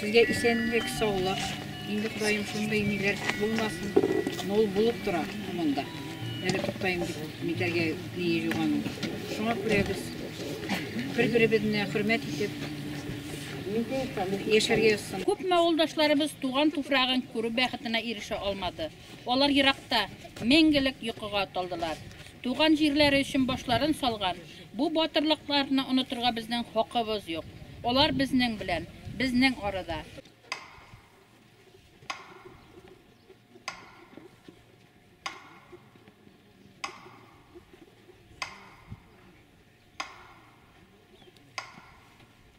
Сезгә исәнлек, саулык. Инде Ходаем шундый ниләр булмасын. Но ул булып тора монда. Әле туктаем дип митәргә ние юган. Шуңа күрә без бер-беребезне хөрмәт итеп яшәргә язсын. Күпме авылдашларыбыз туган туфрагын күрү бәхетенә ирешә алмады. Алар еракта, мәңгелек йокыга талдылар. Туган җирләре өчен башларын салган бу батырлыкларны онытырга безнең хакыбыз юк. Алар безнең белән, безнең арада.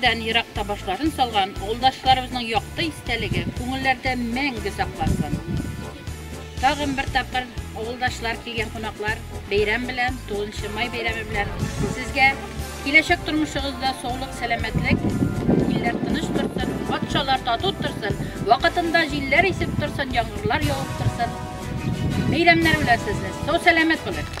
Бездән ерак табашларын салган авылдашларыбызның якты истәлеге күңелләрдә мәңге саклансын. Тагын бер тапкыр авылдашлар килгән кунаклар бәйрәм белән, 9 май бәйрәме белән сезгә киләчәк тормышыгызда саулык, сәламәтлек, илләр тыныч торсын, патшалар тату торсын, вакытында җилләр исеп торсын, яңгырлар явып торсын. Бәйрәмнәр белән сезне. Сау сәламәт булыгыз.